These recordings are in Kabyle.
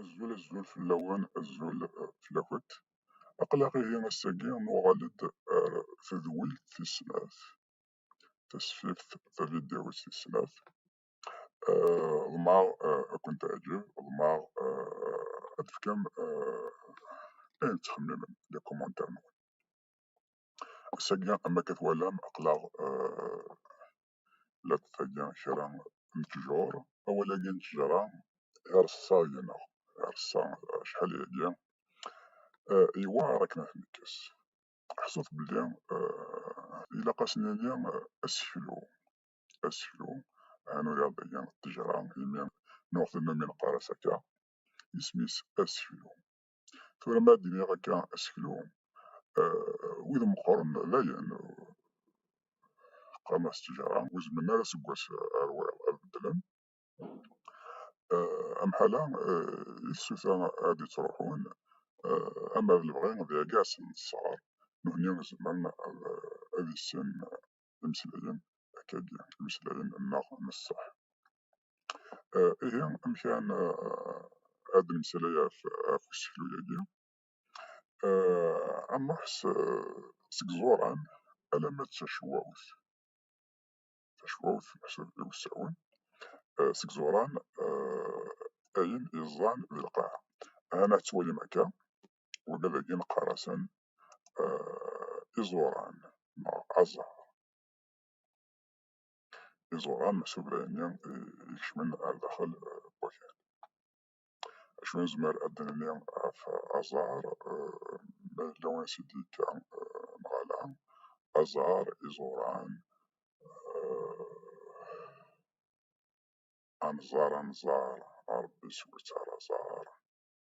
Azul azul fell-awen, azul fell-akent. Aql-aɣ ihi ass-agi nuɣal-d ar tedwilt tis snat, tasfift taviddiwit tis snat. Ḍemɛeɣ ad kent-teɛǧeb, ḍemɛeɣ ad d-tefkem ayen tettxemmimem, les commentaires-nwen. Ass-agi am akka twalam aql-aɣ lweqt-agi kra n ttjur, awal-agi n ttejra ireṣṣa deg-neɣ, ireṣṣa acḥal yagi, yewɛer akken ad t-nekkes. Ḥṣut belli ilaq ad s-nini aseklu, aseklu, ɛni ur iɛeḍḍi ttejra, imi nuɣ tannumi neqqar-as akka, isem-is aseklu. tura ma d-iniɣ akka aseklu wid meqqren dayen qqaren as ttejara ur zemmren ara seg wass ar wayeḍ ad beddlen amḥala i tsuta ad d-ittruḥun ama d lebɣi d iɛeggasen n ṣṣɣar nutni zemren ad issin imslayen akkagi, imslayen nneɣ nesseḥ. Eh, ihi amek ara eh, ad nemsalay ɣef useklu-agi eh, ameḥ seg ẓuran alamma d tacwawt tacwawt meḥsub i usawen seg ẓuran ayen iẓẓan d lqaɛa ana ttwalim akka ula d agi neqqar-asen eh, iẓuran neɣ aẓar. Iẓuran meḥsub d ayenni ikecmen ar daxel n eh, wakal. Acu nezmer ad d-nini ɣef aẓar eh, ma yella win s id-yekka neɣ ala? Aẓar, iẓuran, anẓar anẓar, a Rebbi sew-itt ar aẓar.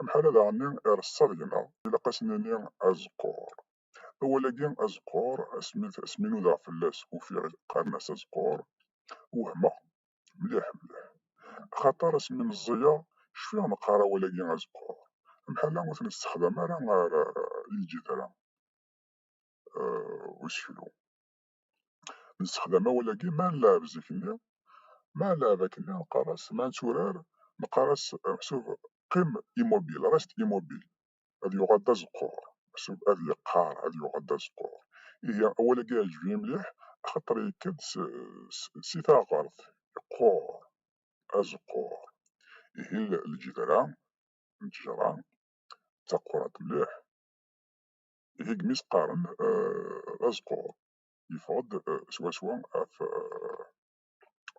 Amḥalal ɛni ireṣṣa deg-neɣ? Ilaq a s-nini azeqqur. Awal-agi azeqqur, asmi nudaɣ fell-as ufiɣ qqaren-as azeqqur, wehmeɣ mliḥ mliḥ. Axaṭer asmi meẓẓiyeɣ cfiɣ neqqar awal-agi azeqqur. Amḥal-a ur t-nessexdam ara ɣer lǧedra n useklu. Nessexdam awal-agi ma nleɛɛeb zik-nni, ma nleɛɛeb akken-nni neqqar-as, ma netturar neqqar-as meḥsub qim immobile, reste immobile, ad yuɣal d azeqqur, meḥsub ad yeqqar, ad yuɣal d azeqqur. Ihi awal-agi iɛǧeb-iyi mliḥ axaṭer yekka-d si taɣɣert, yeqqur, azeqqur. Ihi lǧedra n ttejra d taqquṛant mliḥ. Ihigemis qqaren azqur yeffeɣ-d swaswa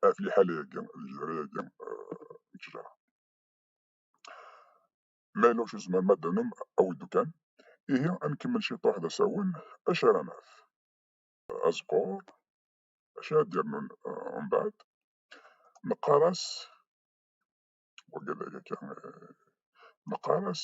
ɣef liḥala-agi, lejhra-agi n ttejra. Ma yella ur s-tezmerem ad d-tanum, awid-d kan. Ihi ad nkemmel ciṭuḥ d asawen, acu ara naf? Azqur, acu ara d-yernun mbeɛd? Neqqar-as, wagi d ayagi, neqqar-as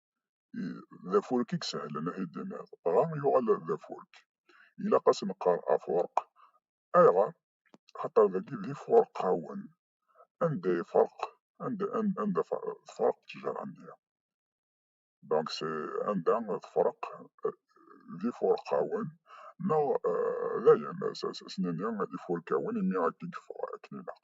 d afurk i isehlen ad t-id-tiniḍ, dɣa yuɣal d afurk. Ilaq ad s-neqqar afurq. Ayɣer? Axaṭer dagi d ifurqawen, anda ifreq, anda, anda tefreq ttejra-nni. Donc anda tefreq d ifurqawen neɣ dayen ad s-nini ifurkawen imi akka i yeffeɣ akken ilaq.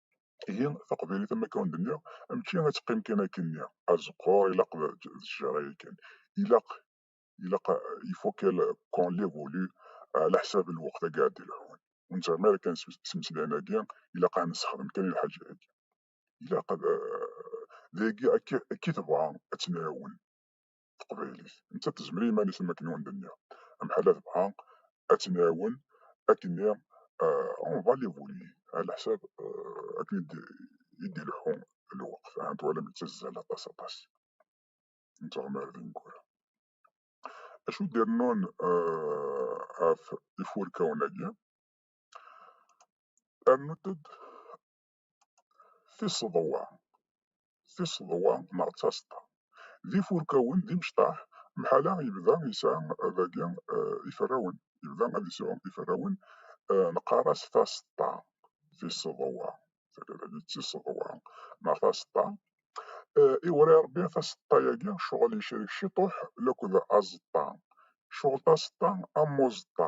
Ihi taqbaylit am akka ur d-nniɣ, mačči ad teqqim kan akkenni, azeqqur ilaq d ttjara yakan. Ilaq, ilaq, il faut qu'on l'évolue ɛla ḥsab lweqt agi ara d-ilḥun. Ur nettɣimi ara kan s imeslayen-agi, ilaq ad nessexdem kan i lḥaǧa-agi. Ilaq ad, d ayagi akka i tebɣa ad tt-nɛiwen. teqbaylit, nettat tezmer i yiman-is am wakken i wen-d-nniɣ, amḥal ad nebɣa ad tt-nɛawen akken i on va l'évoluer ɛla leḥsab akken i d-ileḥḥu lweqt, ahat twalam yettazzal aṭas aṭas nettɣemar d ineggura. Acu d-irennun ɣef ifurkawen-agi? Rnut-d tiseḍwa, tiseḍwa neɣ d taseḍḍa. D ifurkawen, d imecṭaḥ, mḥala yebda yesɛa dagi eh, iferrawen, yebda ad yesɛu iferrawen, eh, neqqar-as taseḍḍa, tiseḍwa, tagi d tiseḍwa neɣ taseḍḍa. Eh, iwri Rebbi taseḍḍa-agi, ccɣel yecrek ciṭuḥ laked azeṭṭa, ccɣel taseḍḍa am uzeṭṭa,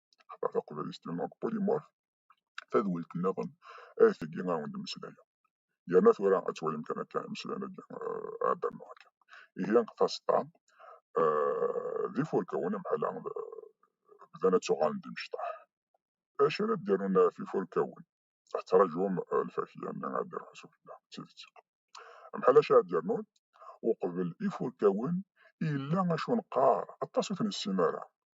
Ḥemmleɣ taqbaylit n Polymorph, tadwilt nniḍen ay tigi a wen-d-mmeslayeɣ. Yerna tura ad twalim kan akka imeslayen-agi ɛeddan neɣ akka. Ihi taseṭṭa d ifurkawen amḥala bdan ad ttuɣalen d imecṭaḥ. Acu ara d-irun ɣef ifurkawen? Tettrajum lfakya-nni ad d-iruḥ s ufella, d tidet. Amḥal acu ara d-irnun? Uqbel ifurkawen yella acu neqqar, aṭas ur ten-nessin ara.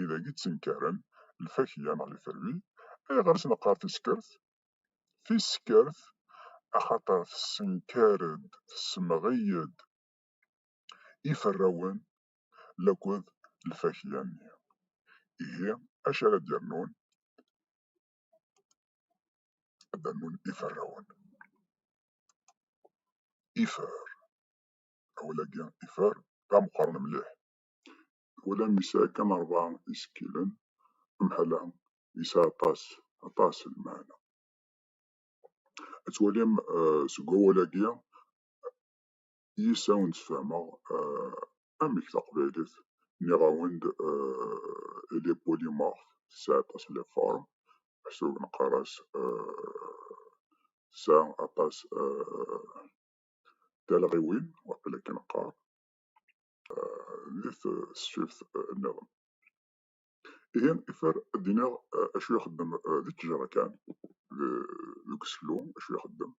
i d ak-ittenkaren lfakya neɣ lferwi. Ayɣer i s-neqqar tiskert? Tiskert axaṭer tessenkar-d, tessemɣi-d iferrawen laked lfakya-nni. Ihi acu ara d-yernun? Ad d-rnun iferrawen. Ifer, awal-agi ifer d ameqqran mliḥ. ula mi yesɛa kan rebɛa isekkilen, amḥal-a yesɛa aṭas, aṭas n lmeɛna. Ad twalim seg wawal-agi yis-s ad awen-d-sfehmeɣ amek taqbaylit, nniɣ-awen-d elle est polymorphe, tesɛa aṭas n lefformes, meḥsub neqqar-as tesɛa aṭas n talɣiwin, waqil akken neqqar. di tesfift nniḍen. Ihi ifer ad d-iniɣ acu ixeddem di ttjara kan, deg useklu acu ixeddem.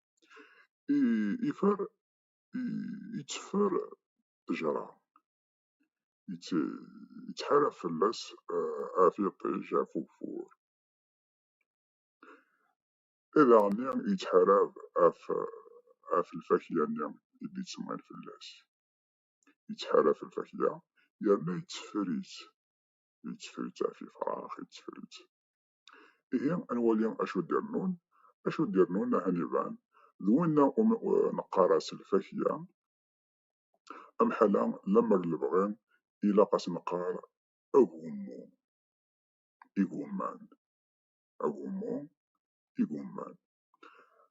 Ifer yetteffer ttjara, yettḥarab fell-as ɣef yiṭij, ɣef ugeffur. I daɣ-nni yettḥarab ɣef lfakya-nni i d-yettemmɣin fell-as. yettḥaraf lfakya yerna yetteffer-itt yetteffer-itt ɣef yefrax yetteffer-itt ihi ad nwali acu d-irnun acu d-irnun ahan iban d winna umi neqqar-as lfakya amḥala lemmer lebɣi ilaq ad s-neqqar agummu igumman agummu igumman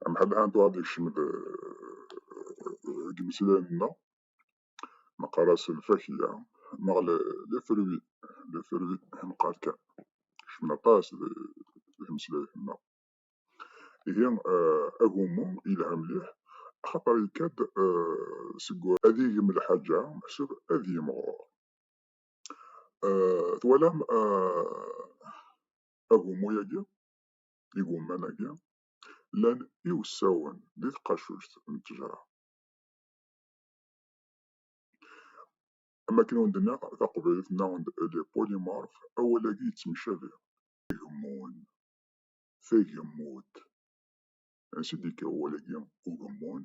amḥadḥa n tuɣaḍ yekcem-d deg imeslayen-nna neqqar-as lfakya neɣ lefrwi lefrwi neqqar kan kecmen aṭas deg imeslayen-nna ihi agummu yelha mliḥ axaṭer yekka-d seg ad yegm lḥaǧa meḥsub ad yimɣur twalam agummu-yagi igumman-agi llan iwessawen di tqacuct n ttejra. Am akken i wen-d-nniɣ, taqbaylit nniɣ-wen-d elle est polymorphe, awal-agi yettemcabi. Igemmun, tagemmudt. Ansi i d-yekka wawal-agi ugemmun?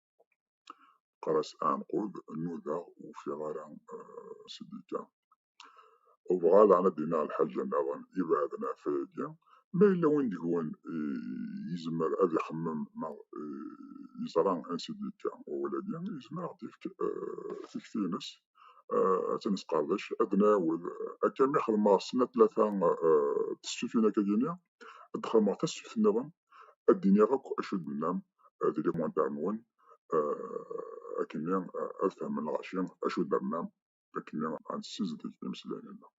Qqar-as Ɛenqub, nudaɣ ur ufiɣ ara Sidika. Ubɣa daɣen ad d-iniɣ lḥaǧa nniḍen ibeɛden ɣef wayagi, ma yella win deg-wen yezmer ad ixemmem neɣ yeẓra an Sidika wawal-agi, yezmer ad aɣ-d-yefk tikti-ines ad tt-nesqerdec, ad d-nɛiwed. Akka mi xedmeɣ snat tlata tesfifin akkagi-nni, ad xedmeɣ tasfift nniḍen ad d-iniɣ akk acu d-tennam di limontar-nwen akkenni ad fehmen lɣaci acu d-ternam akkenni ad nessizdig imeslayen-nneɣ.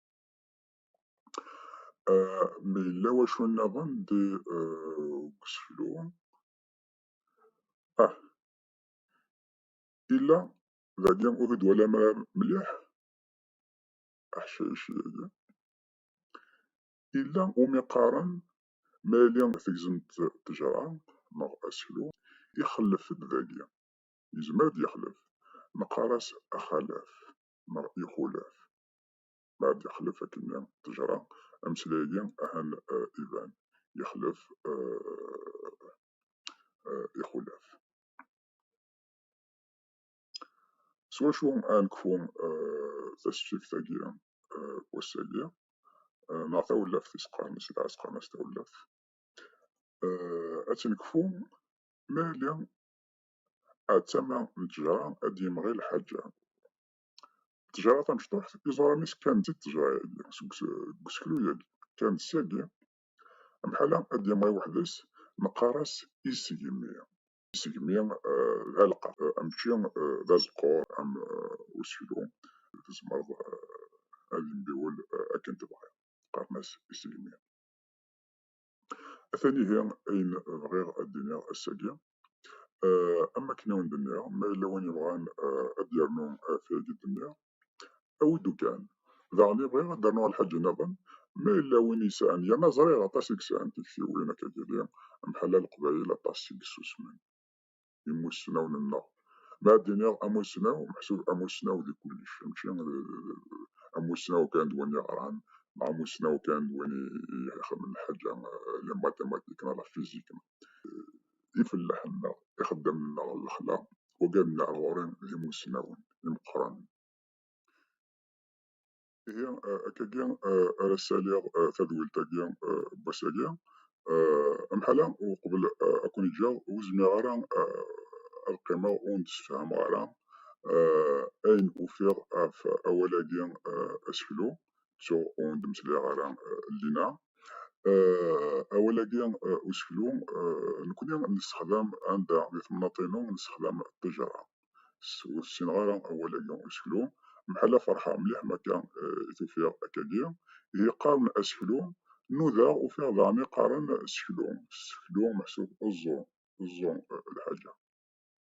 Ma yella wacu nniḍen di deg useklu ah illa dagi ur t-id-twalam ara mliḥ aḥcayci-agi Yella umi qqaren ma yali tegzem-d ttejra neɣ aseklu, ixellef-d dagi. Yezmer ad d-yexlef. Neqqar-as axalaf neɣ ixulaf. Ma ad d-yexlef akkenni ttejra, ameslay-agi ahan iban, yexlef ixulaf. swaswa ad nekfu tasfift agi wass-agi neɣ tawellaft i s-qqaren-as dɣa s-qqaren-as tawellaft ad tt-nekfu ma yali ad tama n tejara ad d-yemɣi lḥaǧa tejara tamecṭuḥt iẓuran-is kan d tejara-agi seg useklu-agi kan d syagi amḥala ad d-yemɣi weḥd-s neqqar-as isegmi isegmi d aleqqa, mačči d azeqqur am useklu, tzemreḍ ad yembiwel akken tebɣiḍ, qqaren-as isegmi. Atan ihi ayen bɣiɣ ad d-iniɣ ass-agi, am wakken i wen-d-nniɣ, ma yella win yebɣan ad d-yernu tayagi d-nniɣ, Awi-d kan. Daɣen i bɣiɣ ad d-rnuɣ lḥaǧ nniḍen, ma yella win yesɛan, yerna ẓriɣ aṭas i yesɛan tiktiwin akka tili, mḥalla Leqbayel aṭas i yessusmen imussnawen-nneɣ. Ma ad d-iniɣ amussnaw, meḥsub amussnaw di kullec, mačči amussnaw kan d win yeɣran, neɣ amussnaw kan d win ixedmen lḥaǧa, la matematik neɣ la fizik. ifellaḥen-nneɣ, ixeddamen-nneɣ n lexla, wagad n leɛɣuri d imussnawen imeqqranen. Ihi akkagi ara ssaliɣ tadwilt-agi n wass-agi. Amḥala uqbel ad ken-ǧǧeɣ ur zmireɣ ara ad qqimeɣ ur n-d-ssefhameɣ ara ayen ufiɣ ɣef awal-agi aseklu. ttuɣ ur d-meslayeɣ ara llinna. Awal-agi useklu nekkni nessexdam anda di temnaḍt-inu nessexdam ṭṭijara. Ur ssineɣ ara awal-agi useklu. Mḥalla ferḥeɣ mliḥ mi akka i t-ufiɣ akkagi. Ihi qqaren aseklu. Nudaɣ ufiɣ daɣen i qqaren seklu. Seklu meḥsub eẓẓu, eẓẓu lḥaǧa.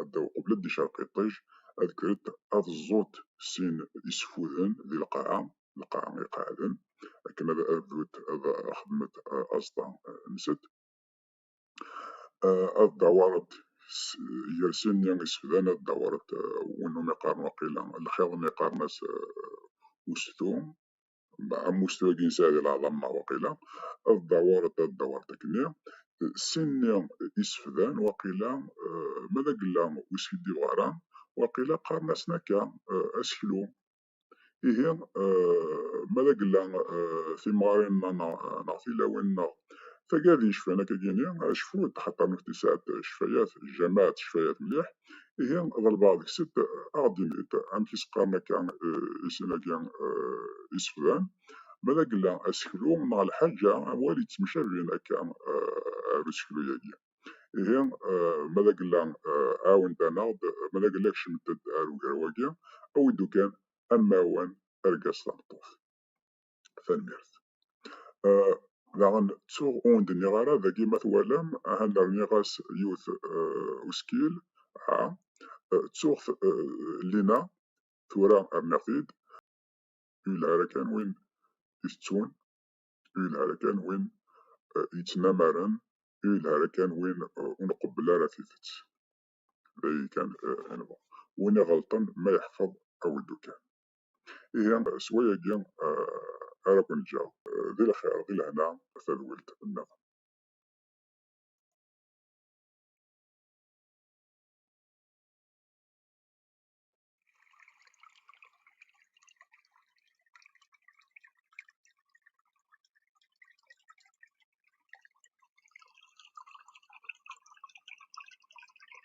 adda uqbel d icerq iṭij, ad kkrent ad ẓẓunt sin isfuden di lqaɛa, lqaɛa iqeɛɛden, akken ad bdunt ad xedment aẓeṭṭa nsent. Ad dawṛent gar sin-nni isefdan, ad dawṛent win umi qqaren waqila lxiḍ-nni qqaren-as ustu, ammuct wagi yesɛa di lɛḍama waqila ad dawar ad dawar tekni sin-nni isefdan waqila eh, ma d agella ur skiddibeɣ ara waqila qqaren-asen akka eh, aseklu ihi eh, ma d agella timɣarin-nneɣ neɣ tilawin-nneɣ tagadi cfan akka gini acfu d xaṭer nutni sɛat cfayat jamaat cfayat mliḥ Ihi d lbaɛḍ kkset aɣ-d-init amek i s-qqaren akka i sin-agi iseflan, ma d agella, aseklu neɣ lḥaǧa, awal yettemcabin akka ar useklu-agi. Ihi ma d agella ɛawnet-aneɣ-d, ma d agella kecmet-d ar ugraw-agi, awid-d ukan ammawan argaz tameṭṭut. Tanemmirt. Uh, daɣen ttuɣ ur d-nniɣ ara dagi ma twalam ahan rniɣ-as yiwet uh, uskil ha uh, ttuɣ uh, lina tura rniɣ-t-id yelhara kan win itettun yelhara kan win uh, yettnamaren yelhara kan win uh, ur nqebbel ara tidet d ayi kan uh, anwa win iɣelṭen ma yeḥfeḍ aweddu kan ihi s wayagi ara ken-ǧǧeɣ di lxir di lehna a tadwilt nniḍen.